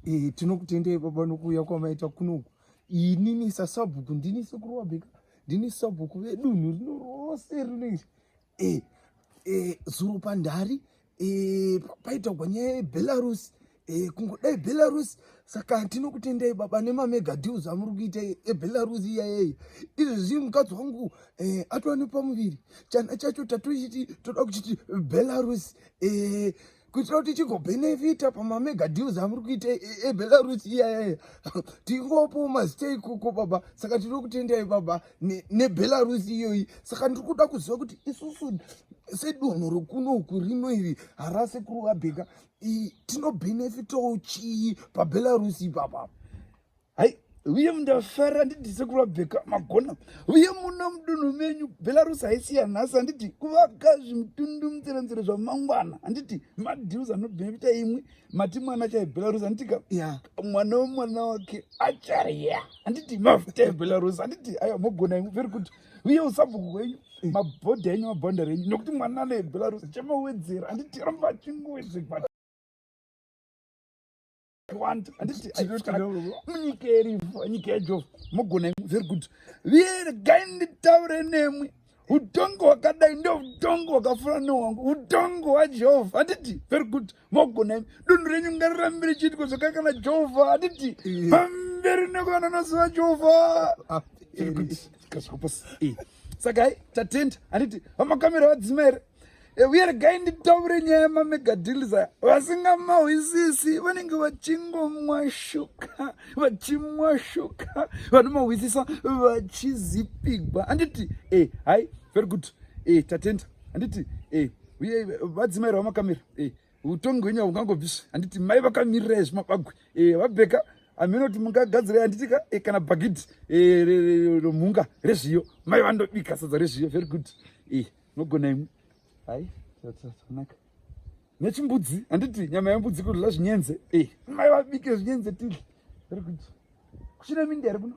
E, tinokutendei baba nokuuya kwamaita kunoku. Inini sasabhuku ndini sekuru wabheka ndini sabhuku vedunhu rino rose rino iri e, e, zuro pandhari e, paitagwa nyaya yebelarus e, kungodai belarus saka tinokutendai baba nemamega deals amuri kuita ebelarus iyayeyi izvezvi mukadzi wangu e, atova nepamuviri chana chacho tatochiti toda kuchiti belarus e, kuitira kuti tichigobenefita pamamega deals amuri kuita ebelarus iyayaya tingopo mastay kuko baba saka tiri kutendai baba nebelarus iyoyi saka ndiri kuda kuziva kuti isusu sedunhu rokunoku rino iri harase kuri wabheka tinobenefitawo chii pabelarus ipapapa hai uye ndafara handiti sekuru vabheka magona uye muno mudunhu menyu belarus haisi yanhasi handiti kuvaka zvimutundu mutserenzere zvamangwana handiti madeals anobhemita imwe mati mwana chaye belarus handitika ya mwana wemwana wake acharya handiti mafuta ebelarus handiti aya mogona imwe very good uye usabhuku wenyu mabhodha enyu mabhonda renyu nokuti mwana ane belarus chamawedzera handiti ramba achingowezekwaa wanda anditi munyika yerivo nyika yejova mogona very good regai nditaure nemwi utongo hwakadai ndo utongo hwakafura nehwangu utongo hwajehovha handiti very good mogona imi dunhu renyu ngarirambi richiitiko zvakakana jehovha handiti pamberi nekuvana noziva jehovha very good kasvika pasi saka hai tatenda handiti vamakamera vadzima here Eh, uye regai nditaure nyaya yemamegadhiliza vasingamahwisisi vanenge vachingomwa shuka vachimwa shuka vanomahwisisa vachizipigwa handiti e eh, hai very good e eh, tatenda handiti e uye vadzimaira vamakamira e utongi hwenyu haungangobvisvi handiti mai vakamirira izvi mabagwe e vabheka amene kuti mungagadzira handiti ka e kana bhagidhi e romhunga rezviyo mai vandobika sadza rezviyo very good e Nogona imwe. Hai, zvatonaka. Nechimbudzi, handiti nyama yembudzi kudla zvinyenze. Eh, mai vabike zvinyenze tidle. Very good. Kuchina mindi here kuno?